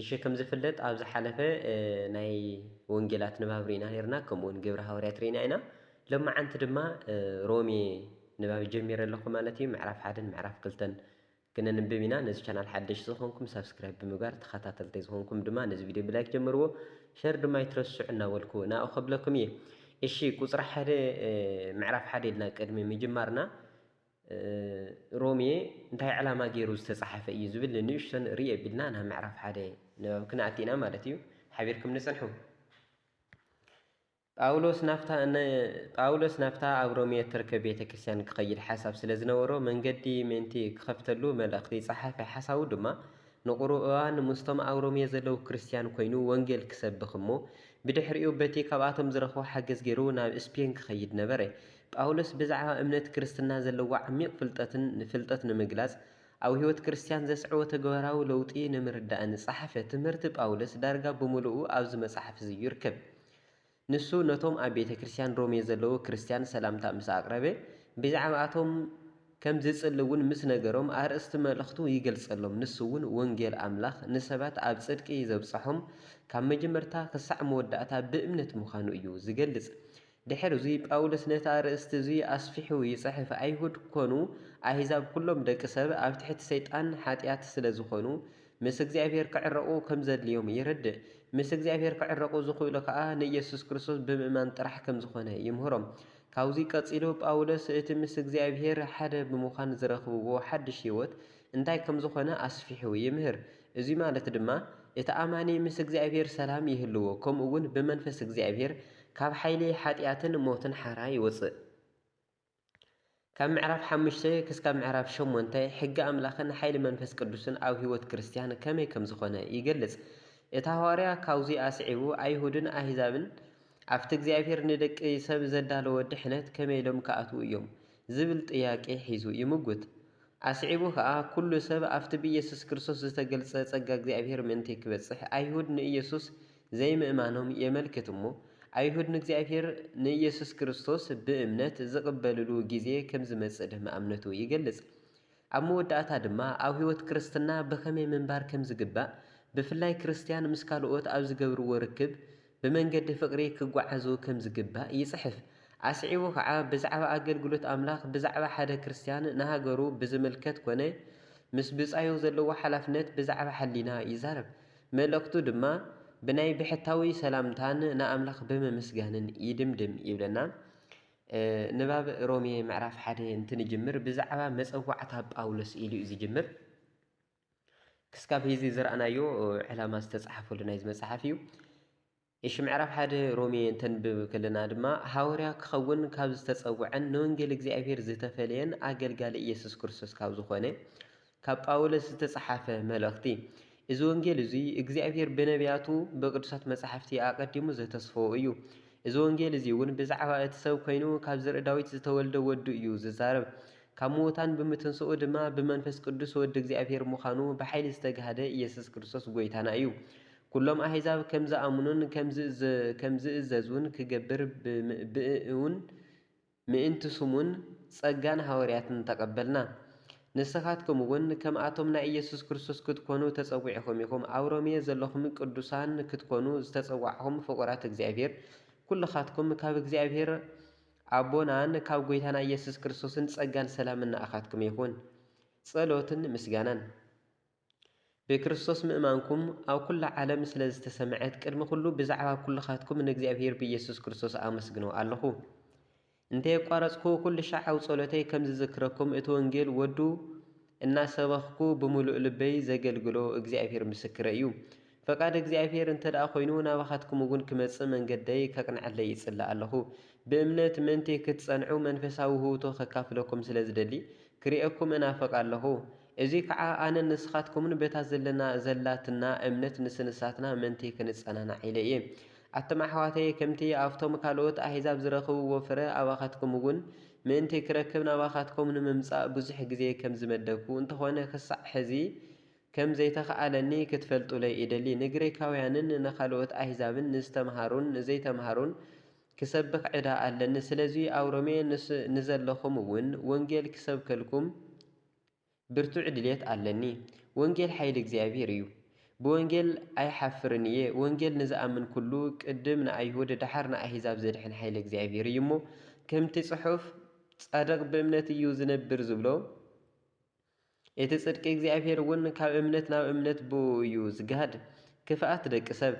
እሺ ከም ዝፍለጥ ኣብ ዝሓለፈ ናይ ወንጌላት ንባብ ርኢና ኔርና ከምኡ ውን ግብሪ ሃዋርያት ርኢና ኢና ሎምዓንቲ ድማ ሮሜ ንባብ ጀሚረ ኣለኹ ማለት እዩ ምዕራፍ ሓደን ምዕራፍ ክልተን ክነንብብ ኢና ነዚ ቻናል ሓደሽ ዝኾንኩም ሳብስክራይብ ብምግባር ተኸታተልተይ ዝኾንኩም ድማ ነዚ ቪድዮ ብላይክ ጀምርዎ ሸር ድማ ኣይትረስዑ እናበልኩ ናኡ ከብለኩም እየ እሺ ቁፅሪ ሓደ ምዕራፍ ሓደ ኢልና ቅድሚ ምጅማርና ሮሜ እንታይ ዕላማ ገይሩ ዝተጻሓፈ እዩ ዝብል ንንእሽቶ ንርኢ ኣቢልና ናብ ምዕራፍ ሓደ ንባብ ክንኣቲ ኢና ማለት እዩ ሓቢርኩም ንጽንሑ ጳውሎስ ናብታ ጳውሎስ ናብታ ኣብ ሮሜ እትርከብ ቤተ ክርስቲያን ክኸይድ ሓሳብ ስለ ዝነበሮ መንገዲ ምእንቲ ክኸፍተሉ መልእኽቲ ጸሓፈ ሓሳቡ ድማ ንቑሩብ እዋን ምስቶም ኣብ ሮሜ ዘለዉ ክርስቲያን ኮይኑ ወንጌል ክሰብኽ እሞ ብድሕሪኡ በቲ ካብኣቶም ዝረኽቦ ሓገዝ ገይሩ ናብ ስፔን ክኸይድ ነበረ ጳውሎስ ብዛዕባ እምነት ክርስትና ዘለዎ ዓሚቕ ፍልጠትን ንፍልጠት ንምግላጽ ኣብ ሕይወት ክርስትያን ዘስዕቦ ተግባራዊ ለውጢ ንምርዳእን ዝጸሓፈ ትምህርቲ ጳውሎስ ዳርጋ ብምሉኡ ኣብዚ መጽሓፍ እዚ ይርከብ። ንሱ ነቶም ኣብ ቤተ ክርስትያን ሮሜ ዘለዉ ክርስትያን ሰላምታ ምስ ኣቕረበ ብዛዕባኣቶም ከም ዝጽሊ እውን ምስ ነገሮም ኣርእስቲ መልእኽቱ ይገልጸሎም ንሱ እውን ወንጌል ኣምላኽ ንሰባት ኣብ ጽድቂ ዘብጽሖም ካብ መጀመርታ ክሳዕ መወዳእታ ብእምነት ምዃኑ እዩ ዝገልጽ ድሕርዚ ጳውሎስ ነቲ ኣርእስቲ እዚ ኣስፊሑ ይጽሕፍ፣ ኣይሁድ ኰኑ ኣህዛብ ኵሎም ደቂ ሰብ ኣብ ትሕቲ ሰይጣን ሓጢኣት ስለ ዝዀኑ፣ ምስ እግዚኣብሄር ክዕረቑ ከም ዘድልዮም የረድእ። ምስ እግዚኣብሄር ክዕረቑ ዝኽእሉ ከኣ ንኢየሱስ ክርስቶስ ብምእማን ጥራሕ ከም ዝዀነ ይምህሮም። ካብዚ ቀጺሉ ጳውሎስ እቲ ምስ እግዚኣብሄር ሓደ ብምዃን ዝረኽብዎ ሓድሽ ህይወት እንታይ ከም ዝዀነ ኣስፊሑ ይምህር። እዚ ማለት ድማ፣ እቲ ኣማኒ ምስ እግዚኣብሄር ሰላም ይህልዎ፣ ከምኡውን ብመንፈስ እግዚኣብሄር ካብ ሓይሊ ሓጢኣትን ሞትን ሓራ ይወጽእ። ካብ ምዕራፍ ሓሙሽተ ክስካብ ምዕራፍ ሸሞንተ ሕጊ ኣምላኽን ሓይሊ መንፈስ ቅዱስን ኣብ ህይወት ክርስትያን ከመይ ከም ዝዀነ ይገልጽ። እቲ ሃዋርያ ካብዚ ኣስዒቡ ኣይሁድን ኣህዛብን ኣብቲ እግዚኣብሄር ንደቂ ሰብ ዘዳለዎ ድሕነት ከመይ ኢሎም ክኣትዉ ኢዮም? ዝብል ጥያቄ ሒዙ ይምጕት። ኣስዒቡ ከኣ ኩሉ ሰብ ኣብቲ ብኢየሱስ ክርስቶስ ዝተገልጸ ጸጋ እግዚኣብሔር ምእንቲ ክበጽሕ ኣይሁድ ንኢየሱስ ዘይምእማኖም የመልክት እሞ ኣይሁድ ንእግዚኣብሔር ንኢየሱስ ክርስቶስ ብእምነት ዝቅበልሉ ጊዜ ከምዝመጽእ ድማ እምነቱ ይገልጽ ኣብ መወዳእታ ድማ ኣብ ሕይወት ክርስትና ብኸመይ ምንባር ከምዝግባእ ብፍላይ ክርስትያን ምስ ካልኦት ኣብ ዝገብርዎ ርክብ ብመንገዲ ፍቕሪ ኪጓዓዙ ከም ዚግባእ ይጽሕፍ። ኣስዒቡ ኸኣ፣ ብዛዕባ ኣገልግሎት ኣምላኽ፣ ብዛዕባ ሓደ ክርስትያን ንሃገሩ ብዚምልከት ኰነ ምስ ብጻዩ ዘለዎ ሓላፍነት ብዛዕባ ሕሊና ይዛረብ። መልእኽቱ ድማ ብናይ ብሕታዊ ሰላምታን ንኣምላኽ ብምምስጋንን ይድምድም ይብለና። ንባብ ሮሜ ምዕራፍ ሓደ እንትንጅምር ብዛዕባ መጸዋዕታ ጳውሎስ ኢሉ'ዩ ዚጅምር። ክስካብ ሂዚ ዝረኣናዮ ዕላማ ዝተጻሓፈሉ ናይዚ መጽሓፍ እዩ። እሺ ምዕራፍ ሓደ ሮሜ እንተንብብ ከለና ድማ ሃወርያ ክኸውን ካብ ዝተጸውዐን ንወንጌል እግዚኣብሔር ዝተፈለየን ኣገልጋሊ ኢየሱስ ክርስቶስ ካብ ዝኾነ ካብ ጳውሎስ ዝተጻሓፈ መልእኽቲ እዚ ወንጌል እዙይ እግዚኣብሔር ብነቢያቱ ብቅዱሳት መጻሕፍቲ ኣቐዲሙ ዘተስፈዎ እዩ። እዚ ወንጌል እዚ እውን ብዛዕባ እቲ ሰብ ኮይኑ ካብ ዘርኢ ዳዊት ዝተወልደ ወዱ እዩ ዝዛረብ። ካብ ምዉታን ብምትንስኡ ድማ ብመንፈስ ቅዱስ ወዲ እግዚኣብሔር ምዃኑ ብሓይሊ ዝተጋህደ ኢየሱስ ክርስቶስ ጐይታና እዩ። ኵሎም ኣሕዛብ ከም ዝኣምኑን ከም ዝእዘዙን ክገብር ብምእእኡን ምእንቲ ስሙን ጸጋን ሃዋርያትን ተቐበልና። ንስኻትኩምውን ከምኣቶም ናይ ኢየሱስ ክርስቶስ ክትኰኑ ተጸዊዕኹም ኢኹም። ኣብ ሮሜ ዘለኹም ቅዱሳን ክትኰኑ ዝተጸዋዕኹም ፍቑራት እግዚኣብሔር ኵልኻትኩም ካብ እግዚኣብሔር ኣቦናን ካብ ጎይታና ኢየሱስ ክርስቶስን ጸጋን ሰላምን ንኣኻትኩም ይኹን። ጸሎትን ምስጋናን። ብክርስቶስ ምእማንኩም ኣብ ኩላ ዓለም ስለ ዝተሰምዐት ቅድሚ ኩሉ ብዛዕባ ኩልኻትኩም ንእግዚኣብሔር ብኢየሱስ ክርስቶስ ኣመስግኖ ኣለኹ። እንተየቋረጽኩ ኩልሻዕ ኣብ ጸሎተይ ከም ዝዝክረኩም እቲ ወንጌል ወዱ እናሰበኽኩ ብምሉእ ልበይ ዘገልግሎ እግዚኣብሄር ምስክረይ እዩ። ፈቃድ እግዚኣብሄር እንተድኣ ኮይኑ ናባኻትኩም እውን ክመጽእ መንገደይ ከቅንዐለይ እጽሊ ኣለኹ። ብእምነት ምእንቲ ክትጸንዑ መንፈሳዊ ውህብቶ ከካፍለኩም ስለ ዝደሊ ክርእየኩም እናፍቅ ኣለኹ። እዙይ ከዓ ኣነን ንስኻትኩምን በታ ዘለና ዘላትና እምነት ንስንሳትና ምእንቲ ክንጸናናዕ ኢለ እየ። ኣቱም ኣሕዋተየ ከምቲ ኣብቶም ካልኦት ኣሕዛብ ዝረኽብዎ ፍረ ኣባኻትኩም እውን ምእንቲ ክረክብ ናባኻትኩም ንምምጻእ ብዙሕ ግዜ ከም ዝመደብኩ፣ እንተኾነ ክሳዕ ሕዚ ከም ዘይተኻእለኒ ክትፈልጡለይ እደሊ። ንግሪካውያንን ንኻልኦት ኣህዛብን ንዝተምሃሩን ንዘይተምሃሩን ክሰብኽ ዕዳ ኣለኒ። ስለዚ ኣብ ሮሜ ንዘለኹም እውን ወንጌል ክሰብከልኩም ብርቱዕ ድሌት ኣለኒ ወንጌል ሓይሊ እግዚኣብሔር እዩ ብወንጌል ኣይሓፍርን እየ ወንጌል ንዝኣምን ኩሉ ቅድም ንኣይሁድ ደሓር ንኣሂዛብ ዘድሕን ሓይሊ እግዚኣብሔር እዩ እሞ ከምቲ ጽሑፍ ጻድቅ ብእምነት እዩ ዝነብር ዝብሎ እቲ ጽድቂ እግዚኣብሔር እውን ካብ እምነት ናብ እምነት ብእኡ እዩ ዝግሃድ ክፍኣት ደቂ ሰብ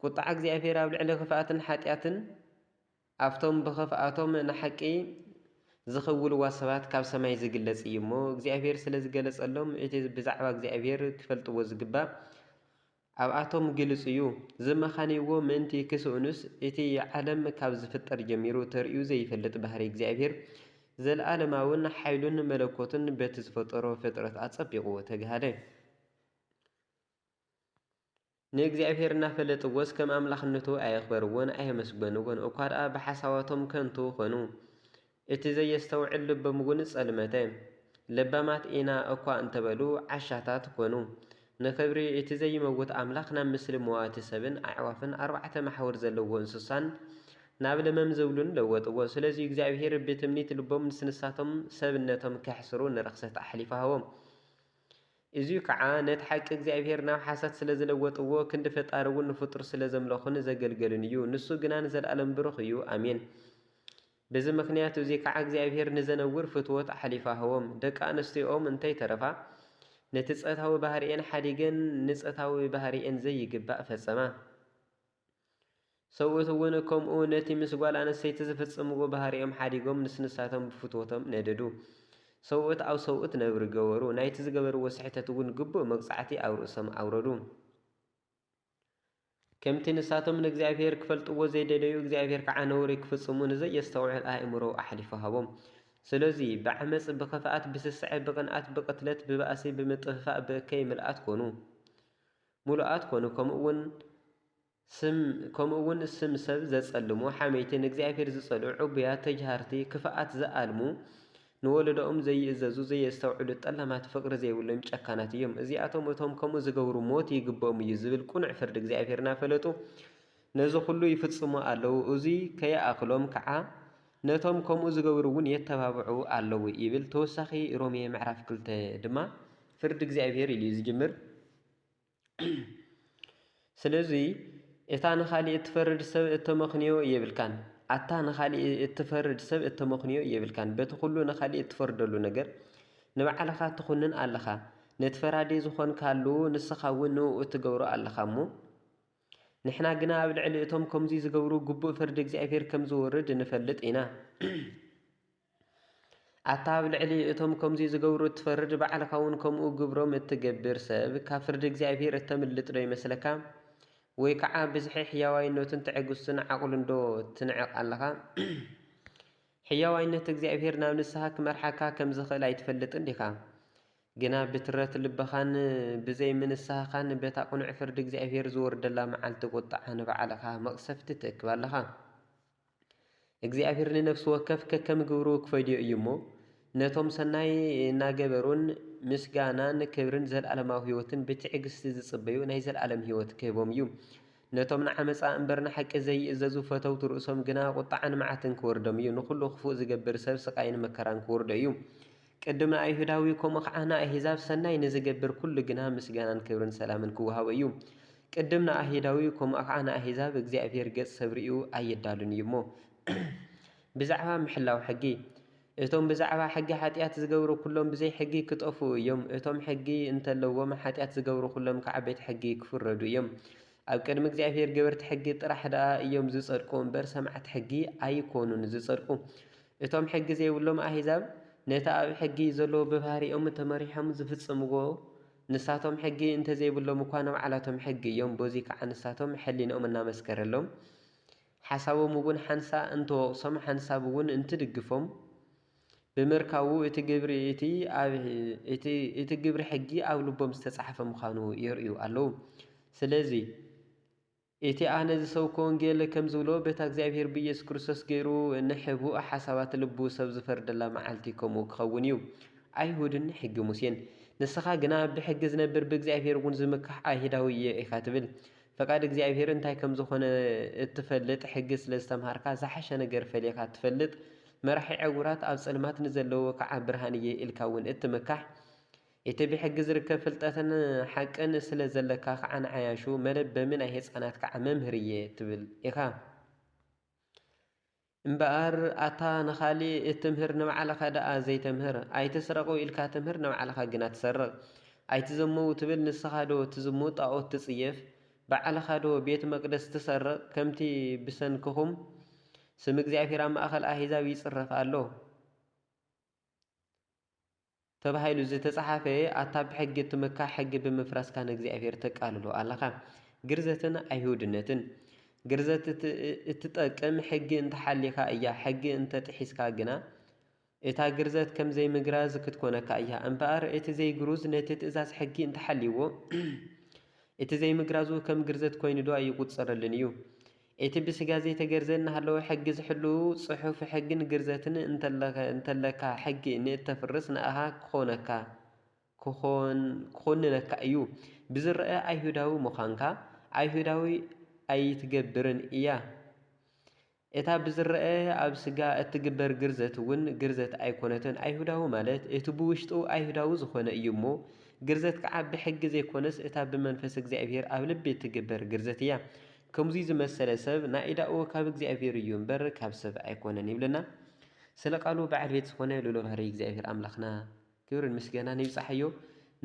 ቁጥዓ እግዚኣብሔር ኣብ ልዕሊ ክፍኣትን ሓጢኣትን ኣብቶም ብኽፍኣቶም ንሓቂ ዚኽውልዋ ሰባት ካብ ሰማይ ዚግለጽ እዩ እሞ፣ እግዚኣብሄር ስለ ዝገለጸሎም፣ እቲ ብዛዕባ እግዚኣብሄር ኪፈልጥዎ ዚግባእ ኣብኣቶም ግሉጽ እዩ። ዝመኻንይዎ ምእንቲ ኺስእኑስ፣ እቲ ዓለም ካብ ዚፍጠር ጀሚሩ ተርእዩ ዘይፈልጥ ባህርይ እግዚኣብሄር፣ ዘለኣለማውን ሓይሉን መለኮቱን በቲ ዝፈጠሮ ፍጥረት ኣጸቢቑ ተግሃደ። ንእግዚኣብሄር እናፈለጥዎስ ከም ኣምላኽነቱ ኣየኽበርዎን ኣየመስገንዎን፣ እኳ ደኣ ብሓሳባቶም ከንቱ ዀኑ። እቲ ዘየስተውዕል ልቦምውን ጸልመተ። ለባማት ኢና እኳ እንተ በሉ፣ ዓሻታት ኰኑ። ንኽብሪ እቲ ዘይመውት ኣምላኽ ናብ ምስሊ መዋቲ ሰብን ኣዕዋፍን ኣርባዕተ መሓውር ዘለዎ እንስሳን ናብ ለመም ዝብሉን ለወጥዎ። ስለዚ እግዚኣብሄር ብትምኒት ልቦም ንስንሳቶም ሰብነቶም ኬሕስሩ ንርኽሰት ኣሕሊፉ ሃቦም። እዙይ ከዓ ነቲ ሓቂ እግዚኣብሄር ናብ ሓሳት ስለ ዝለወጥዎ ክንዲ ፈጣሪ እውን ንፍጡር ስለ ዘምለኹን ንዘገልገሉን እዩ። ንሱ ግና ንዘልኣለም ብሩኽ እዩ። ኣሜን። ብዚ ምኽንያት እዙይ ከዓ እግዚኣብሄር ንዘነውር ፍትወት ኣሕሊፋ ሀቦም። ደቂ ኣንስቲኦም እንተይተረፋ ነቲ ፀታዊ ባህሪኤን ሓዲገን ንፀታዊ ባህሪኤን ዘይግባእ ፈፀማ። ሰብኡት እውን ከምኡ ነቲ ምስ ጓል ኣንስተይቲ ዝፍጽምዎ ባህሪኦም ሓዲጎም ምስ ንሳቶም ብፍትወቶም ነደዱ። ሰብኡት ኣብ ሰብኡት ነብሪ ገበሩ፣ ናይቲ ዝገበርዎ ስሕተት እውን ግቡእ መቕጻዕቲ ኣብ ርእሶም ኣውረዱ። ከምቲ ንሳቶም ንእግዚኣብሄር ክፈልጥዎ ዘይደለዩ፣ እግዚኣብሄር ከኣ ነውሪ ክፍጽሙ ንዘየስተውዕል ኣእምሮ ኣሕሊፉ ሃቦም። ስለዚ፣ ብዓመጽ፣ ብኽፍኣት፣ ብስስዐ፣ ብቕንኣት፣ ብቕትለት፣ ብባእሲ፣ ብምጥፍፋእ፣ ብእከይ ምልኣት ኰኑ። ምሉኣት ኮኑ ከምኡውን ስም ከምኡውን ስም ሰብ ዘጸልሙ ሓመይቲ ንእግዚኣብሔር ዝጸልኡ ዕቡያት ተጅሃርቲ ክፍኣት ዝኣልሙ ንወለዶኦም ዘይእዘዙ ዘየስተውዕሉ ጠላማት ፍቕሪ ዘይብሎም ጨካናት እዮም እዚኣቶም እቶም ከምኡ ዝገብሩ ሞት ይግብኦም እዩ ዝብል ቅኑዕ ፍርዲ እግዚኣብሔር እናፈለጡ ነዚ ኩሉ ይፍጽሙ ኣለዉ እዙይ ከይኣኽሎም ከዓ ነቶም ከምኡ ዝገብሩ እውን የተባብዑ ኣለዉ ይብል ተወሳኺ ሮሜ ምዕራፍ ክልተ ድማ ፍርዲ እግዚኣብሔር ኢሉ እዩ ዝጅምር ስለዙይ እታ ንኻሊእ እትፈርድ ሰብ እተመኽንዮ የብልካን ኣታ ንኻሊእ እትፈርድ ሰብ እተመኽንዮ የብልካን በቲ ኹሉ ንኻሊእ እትፈርደሉ ነገር ንባዕልኻ ትኹንን ኣለኻ ነቲ ፈራዲ ዝኾንካሉ ንስኻ እውን ንኡ እትገብሮ ኣለኻ እሞ ንሕና ግና ኣብ ልዕሊ እቶም ከምዙይ ዝገብሩ ግቡእ ፍርዲ እግዚኣብሔር ከም ዝወርድ ንፈልጥ ኢና። ኣታ ኣብ ልዕሊ እቶም ከምዙይ ዝገብሩ እትፈርድ ባዕልኻውን ከምኡ ግብሮም እትገብር ሰብ ካብ ፍርዲ እግዚኣብሔር እተምልጥዶ ይመስለካ? ወይ ከዓ ብዝሒ ሕያዋይነቱን ትዕግስቱን ዓቕሉንዶ ትንዕቕ ኣለኻ? ሕያዋይነት እግዚኣብሔር ናብ ንስሓ ክመርሓካ ከም ዝኽእል ኣይትፈልጥን ዲኻ? ግና ብትረት ልብኻን ብዘይ ምንስሓኻን በታ ቅኑዕ ፍርዲ እግዚኣብሔር ዝወርደላ መዓልቲ ቁጥዓ ንባዕልኻ መቕሰፍቲ ትእክብ ኣለኻ። እግዚኣብሔር ንነፍሲ ወከፍ ከከም ግብሩ ክፈድዮ እዩ እሞ ነቶም ሰናይ እናገበሩን ምስጋናን ክብርን ዘለዓለማዊ ሕይወትን ብትዕግስቲ ዝጽበዩ ናይ ዘለዓለም ሕይወት ክህቦም እዩ። ነቶም ንዓመጻ እምበር ንሓቂ ዘይእዘዙ ፈተውቲ ርእሶም ግና ቁጥዓን መዓትን ክወርዶም እዩ፣ ንኹሉ ክፉእ ዝገብር ሰብ ስቓይን መከራን ክወርዶ እዩ። ቅድም ንኣይሁዳዊ ከምኡ ኸዓ ንኣሂዛብ ሰናይ ንዚገብር ኩሉ ግና ምስጋናን ክብርን ሰላምን ኪወሃቦ እዩ። ቅድም ንኣሂዳዊ ከምኡ ኸዓ ንኣሂዛብ እግዚኣብሔር ገጽ ሰብ ርእዩ ኣይዳሉን እዩ እሞ። ብዛዕባ ምሕላው ሕጊ። እቶም ብዛዕባ ሕጊ ሓጢኣት ዚገብሩ ኩሎም ብዘይ ሕጊ ኪጠፍኡ እዮም፣ እቶም ሕጊ እንተለዎም ሓጢኣት ዚገብሩ ኩሎም ከዓ ቤት ሕጊ ኪፍረዱ እዮም። ኣብ ቅድሚ እግዚኣብሔር ገበርቲ ሕጊ ጥራሕ ደኣ እዮም ዚጸድቁ እምበር ሰማዕቲ ሕጊ ኣይኮኑን ዚጸድቁ። እቶም ሕጊ ዘይብሎም ኣህዛብ ነቲ ኣብ ሕጊ ዘሎ ብባህሪኦም ተመሪሖም ዝፍጽምዎ ንሳቶም ሕጊ እንተዘይብሎም እኳ ናባዕላቶም ሕጊ እዮም በዙይ ከዓ ንሳቶም ሕሊንኦም እናመስከረሎም ሓሳቦም እውን ሓንሳእ እንትወቕሶም ሓንሳብ እውን እንትድግፎም ብምርካቡ እቲ ግብሪ እቲ ኣብ እቲ እቲ ግብሪ ሕጊ ኣብ ልቦም ዝተጻሕፈ ምዃኑ የርእዩ ኣለዉ ስለዙይ እቲ ኣነ ዝሰብኮ ወንጌል ከም ዝብሎ በታ እግዚኣብሄር ብኢየሱስ ክርስቶስ ገይሩ ንሕቡእ ሓሳባት ልቡ ሰብ ዝፈርደላ መዓልቲ ከምኡ ክኸውን እዩ። ኣይሁድን ንሕጊ ሙሴን። ንስኻ ግና ብሕጊ ዝነብር ብእግዚኣብሄር እውን ዝምካሕ ኣይህዳዊ እየ ኢኻ ትብል። ፈቃድ እግዚኣብሄር እንታይ ከም ዝኾነ እትፈልጥ ሕጊ ስለ ዝተምሃርካ ዝሓሸ ነገር ፈሊኻ እትፈልጥ መራሒ ዕውራት ኣብ ጸልማት ንዘለዉ ክዓ ብርሃን እየ ኢልካ እውን እትምካሕ ኢቲ ብሕጊ ዝርከብ ፍልጠትን ሓቅን ስለ ዘለካ ካዓ ንዓያሹ መለበሚ ናይ ህፃናት ካዓ መምህር እየ ትብል ኢካ እምበኣር ኣታ ንካሊእ እትምህር ንባዕልካ ዳኣ ዘይተምህር ኣይትስረቁ ኢልካ ትምህር ንባዕልካ ግና ትሰርቅ ኣይትዘመዉ ትብል ንስካ ዶ ትዝሙት ጣኦት ትፅየፍ ባዕልካ ዶ ቤት መቅደስ ትሰርቅ ከምቲ ብሰንክኩም ስም እግዚኣብሔር ኣብ ማእከል ኣህዛብ ይፅረፍ ኣሎ። ተባሂሉ ዝተጻሓፈ ኣታ ብሕጊ እትመካሕ ሕጊ ብምፍራስካ ንእግዚኣብሔር ተቃልሎ ኣለኻ ግርዘትን ኣይሁድነትን ግርዘት እትጠቅም ሕጊ እንተሓሊኻ እያ ሕጊ እንተጥሒስካ ግና እታ ግርዘት ከም ዘይምግራዝ ክትኮነካ እያ እምበኣር እቲ ዘይግሩዝ ነቲ ትእዛዝ ሕጊ እንተሓልይዎ እቲ ዘይምግራዙ ከም ግርዘት ኮይኑዶ ኣይቁጸረሉን እዩ እቲ ብስጋ ዘይተገርዘ እናሃለወ ሕጊ ዝሕሉ ጽሑፍ ሕግን ግርዘትን እንተለካ ሕጊ ንእተፍርስ ንኣኻ ክኾነካ፣ ክኹንነካ፣ እዩ። ብዝረኣ ኣይሁዳዊ ምዃንካ ኣይሁዳዊ ኣይትገብርን እያ። እታ ብዝረኣ ኣብ ስጋ እትግበር ግርዘት እውን ግርዘት ኣይኮነትን። ኣይሁዳዊ ማለት እቲ ብውሽጡ ኣይሁዳዊ ዝኾነ እዩ እሞ ግርዘት ከዓ ብሕጊ ዘይኮነስ እታ ብመንፈስ እግዚኣብሔር ኣብ ልቢ እትግበር ግርዘት እያ። ከምዙይ ዝመሰለ ሰብ ናኢዳኡ ካብ እግዚኣብሔር እዩ እምበር ካብ ሰብ ኣይኮነን ይብለና ስለ ቃሉ በዓል ቤት ዝኾነ ልኡለ ባህርይ እግዚኣብሔር ኣምላኽና ክብርን ምስጋናን ይብጻሓዮ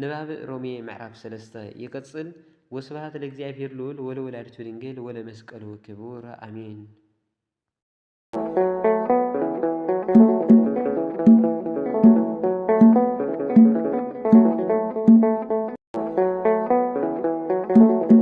ንባብ ሮሜ ምዕራፍ ሰለስተ ይቅጽል ወስብሃት ለእግዚኣብሔር ልኡል ወለወላዲቱ ድንግል ወለመስቀሉ ክቡር ኣሜን